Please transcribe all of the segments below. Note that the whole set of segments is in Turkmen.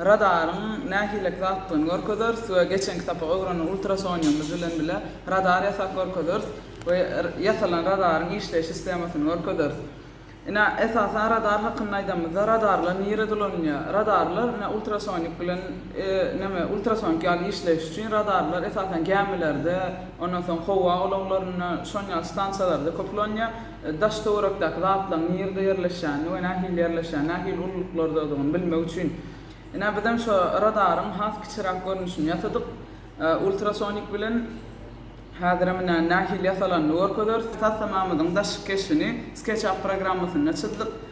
Radaryň nähilek zatdygyny görkezeris we geçenki sapak öwrenen ultrasonýumyz bilen bile radar ýasap görkezeris we ýasalan radaryň işleýiş sistemasyny görkezeris. Ine, esasan radar hakynda aýdanymyzda radarlar nire dolanylýar? Radarlar ine ultrasonik bilen neme ultrasonik ýaly işleýiş üçin radarlar esasan gämilerde, ondan soň howa ulaglarynda, şonuň ýaly stansiýalarda köp ulanýar. daş töwerekdäki zatlaryň nirde ýerleşýänini we nähili ýerleşýän, nähili ululyklardadygyny bilmek üçin, ine, bizem şo radaryň has kiçiräk görnüşini ýasadyk. Ultrasonik bilen häzirem ine, nähili ýasalanyny görkezeris. Taslamamyzyň daşky keşbini SketchUp programmasynda çyzdyk.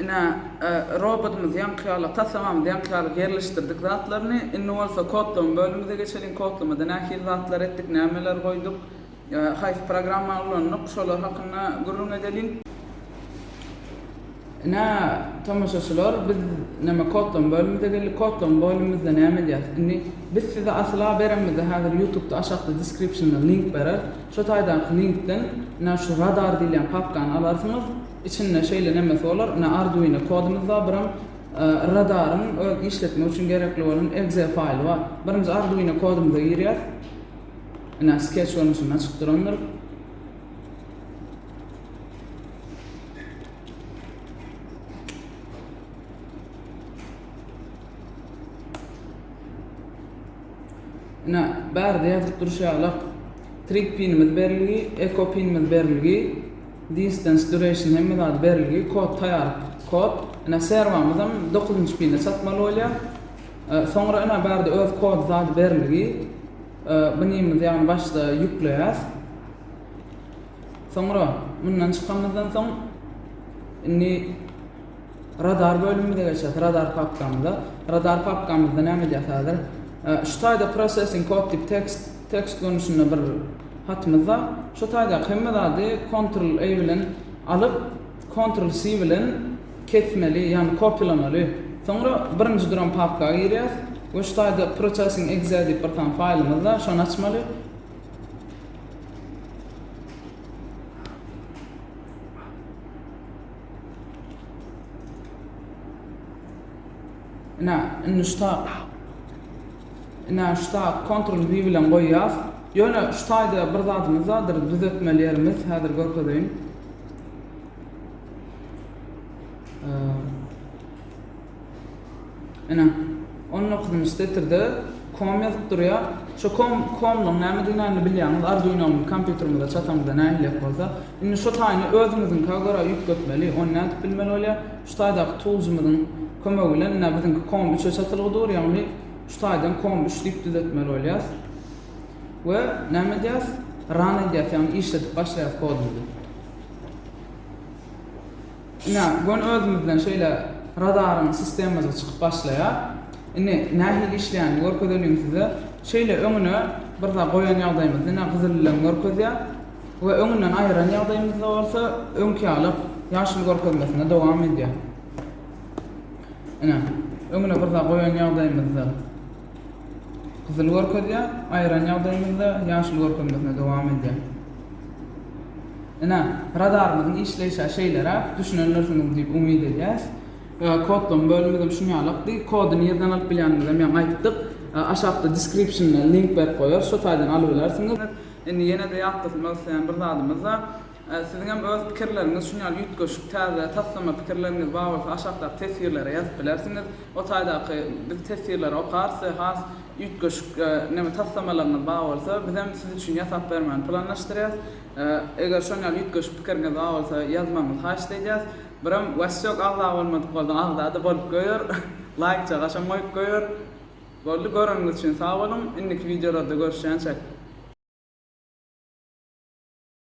Ine, robotymyz ýaňky ýaly, taslamamyz ýaňky ýaly ýerleşdirdik zatlaryny. Indi bolsa kodlama bölümimize geçeliň. Kodlamada nähili zatlar etdik, nämeler goýduk, haýsy programma ulandyk, şolar hakynda gürrüň edeliň. Ine, tomaşaçylar, biz näme kodlama bölümimize geldik. Kodlama bölümimizde näme edýäris? Indi biz size asyl-a berenimizde häzir ýutubda aşakda description-da link bereris. Şo taýdaky linkden ine şu radar diýilýän papkany alarsyňyz. Içinde şeýle nemesi bolar, ine arduino kodumuz bar, biram radaryň öz işletmek üçin gerekli bolan exe faýly bar. Birinji arduino kodumyza girýäs. Ine sketch görnüşinde açyk durandyr. Ine bärde ýazyp durşy ýaly trip pinimiz berilgi, eko pinimiz berilgi. Distance, duration hemme zady berilgi, kod taýar kod. Ine serwamyzam dokuzynjy pine çatmaly bolýar. Soňra ine bärde öz kod zady berilgi. Binimiz ýagny başda ýükleýäs. Soňra mundan çykanymyzdan soň indi Radar bölümimize geçýäs. Radar papkamyza. Radar papkamyzda näme edýäs häzir? Şu taýda processing kod diýip tekst tekst görnüşinde bir hatymyz bar. Şu taýdaky hemme zady Ctrl A bilen alyp, Ctrl C bilen kesmeli, ýagny kopýalamaly. Soňra birinji duran papka girýäs we şu taýda processing exe diýip bir sany faýlymyz bar, şony açmaly. Ine, indi şu tag. Ine, şu tag Ctrl V bilen goýýas. Ýöne şu taýda bir zadymyz bardyr, düzetmeli ýerimiz, häzir görkezeýin. Ine, on dokuzynjy setirde com ýazyp durýar. Şo com, comluň nämedigini indi bilýäňiz. Arduinonyň kompýuterimize çatamyzda nähilek bolsa. Indi şo taýyny özüňiziňkä görä üýtgetmeli. Ony nädip bilmeli bolýar? Şu taýdaky toolsymyzyň kömegi bilen, ine, biziňki com üçe çatylgy dur, ýagny şu taýdan com üç diýip düzetmeli bolýas. We näme edýäs? Run edýäs, ýagny işledip başlaýas kodumyzy. Ine, göni özümizden şeýle radaryň sistemazy çykyp başlaýar. Indi nähili işleýänini görkezeliň size. Şeýle öňüne bir zat goýan ýagdaýymyzda ine gyzyl bilen görkezýär we öňünden aýyran ýagdaýymyzda bolsa öňki ýaly ýaşyl görkezmesine dowam edýär. Ine, öňüne bir zat goýan ýagdaýymyzda. Gyzyl görkezýär, aýyran ýagdaýymyzda ýaşyl görkezmesine dowam edýär. Ine, radarymyzyň işleýşä şeýleräk, düşünendirsiňiz diýip umyt edýäs. Kodlama bölümimizem şunýalykdy. Kody nirden alyp bilýänimizem ýaňy aýtdyk. Aşakda description-de link berip goýarys, şo taýdan alybilersiňiz. Indi ýene-de ýatlasynmak isleýän bir zadymyz bar. Siziň hem öz pikirleriňiz şun ýaly üýtgeşik, täze, taslama pikirleriňiz bar bolsa aşakdaky teswirlere ýazyp bilersiňiz. O taýdaky biz teswirleri okarys we has üýtgeşik neme taslamalaryňyz bar bolsa biz hem siz üçin ýasap bermäni planlaşdyrýas. Eger şon ýaly üýtgeşik pikiriňiz bar bolsa ýazmagyňyzy haýyşt eýdýäs. Birem Wasýok agza bolmadyk bolsaň agzada bolup göýer. Laýkja gaşam goýup göýer. Boldy göreniňiz üçin sag boluň. Indiki wideolarda görüşýänçek.